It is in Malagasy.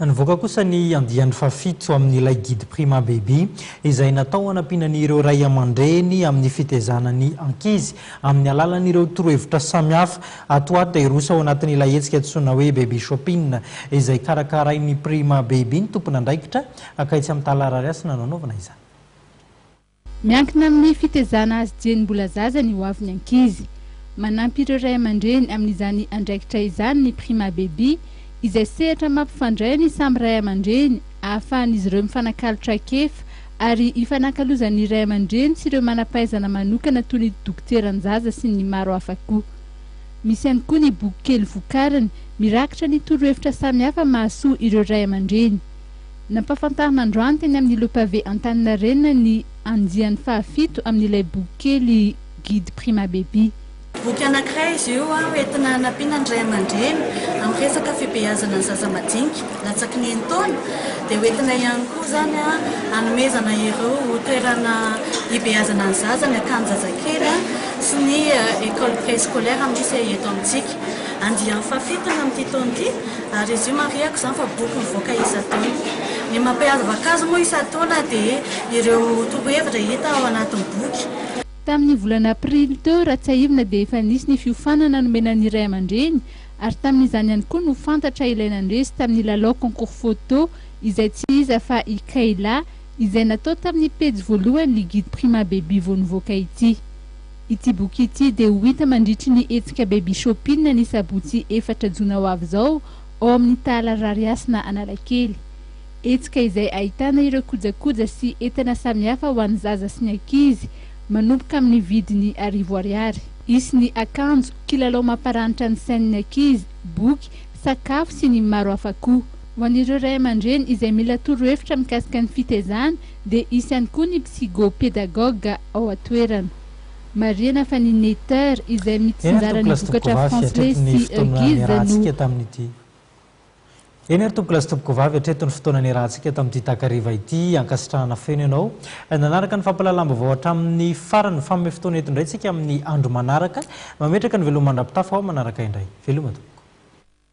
Nivoaka kosa ny andiany fahafito amin'ilay Guide Prima Baby, izay natao hanampiana ny ireo ray aman-dreny amin'ny fitaizana ny ankizy amin'ny alalan'ireo torohevitra samihafa. Ato ary dia hiroso ao anatin'ilay hetsika antsoina hoe Baby Shopping, izay karakarain'ny Prima Baby ny tompon'andraikitra, akaiitsy amin'ny Tala Rarihasina no hanaovana izany. Miankina amin'ny fitezana azy dieny mbola zaza ny ho avy ny ankizy. Manampy ireo ray aman-dreny amin'izany andraikitra izany ny Prima Baby, izay sehatra mampifandray ny samy ray aman-dreny, ahafahan'izy ireo mifanakalo traikefa ary ifanakalozan'ny ray aman-dreny sy ireo manam-pahaizana manokana toy ny dokoteran-jaza sy ny maro hafa koa. Misy ihany koa ny bokikely vokariny, mirakitra ny torohevitra samihafa mahasoa ireo ray aman-dreny. Nampahafantarina androany teny amin'ny Le Pavé Antaninarenina ny andiany fahafito amin'ilay boky kely Guide Prima Baby. Boky anankiray izy io hoentina hanampiana ny ray aman-dreny amin'ny resaka fibeazana ny zaza madinika latsaky ny enin-taona, dia hoentina ihany koa izany hanomezana ireo toerana hibeazana ny zaza, ny akanjo zazakely sy ny école préscolaire misy eto amintsika. Andiany fahafito ny amin'ity taona ity ary izy io marihako izany fa boky mivoaka isan-taona. Ny mampiavaka azy moa isan-taona dia ireo torohevitra hita ao anatin'ny boky. Tamin'ny volana aprily teo raha tsiahivina dia efa nisy ny fiofanana nomena ny ray aman-dreny ary tamin'izany ihany koa no fantatra ilay nandresy tamin'ny lalao concours photo izay tsy iza fa i Kayla izay natao tamin'ny pejy voalohany ny Guide Prima Baby vao nivoaka ity. Ity boky ity dia ho hita mandritry ny hetsika Baby Shopping ny sabotsy efatra jona ho avy izao ao amin'ny Tahala Rarihasina Analakely. Hetsika izay ahitana ireo kojakoja sy entana samihafa ho an'ny zaza sy ny ankizy manomboka amin'ny vidiny arivo ariary. Hisy ny akanjo, kilalao mamparanitra ny sain'ny ankizy, boky, sakafo sy ny maro hafa koa. Ho an'ireo ray aman-dreny izay mila torohevitra mikasika ny fitezana Dia hisy ihany koa ny psygo-pédagogue ao an-toerana. Marihana fa ny Netter izay Eny ary mitsinjara ny tombokilasy vokatra Tompoko Vavy Fransley hatreto ny sy fotoana Hughes no niarahantsika tamin'ity Eny ary Tompokolazy Tompoko Vavy hatreto ny fotoana niarahantsika tamin'ity takariva ity ankasitrahana feno ianao nanaraka ny fampahalalam-baovao hatramin'ny farany faome fotoana eto indray tsika amin'ny andro manaraka mametraka ny veloma mandra-pitafa ho aho manaraka indray veloma tompoko.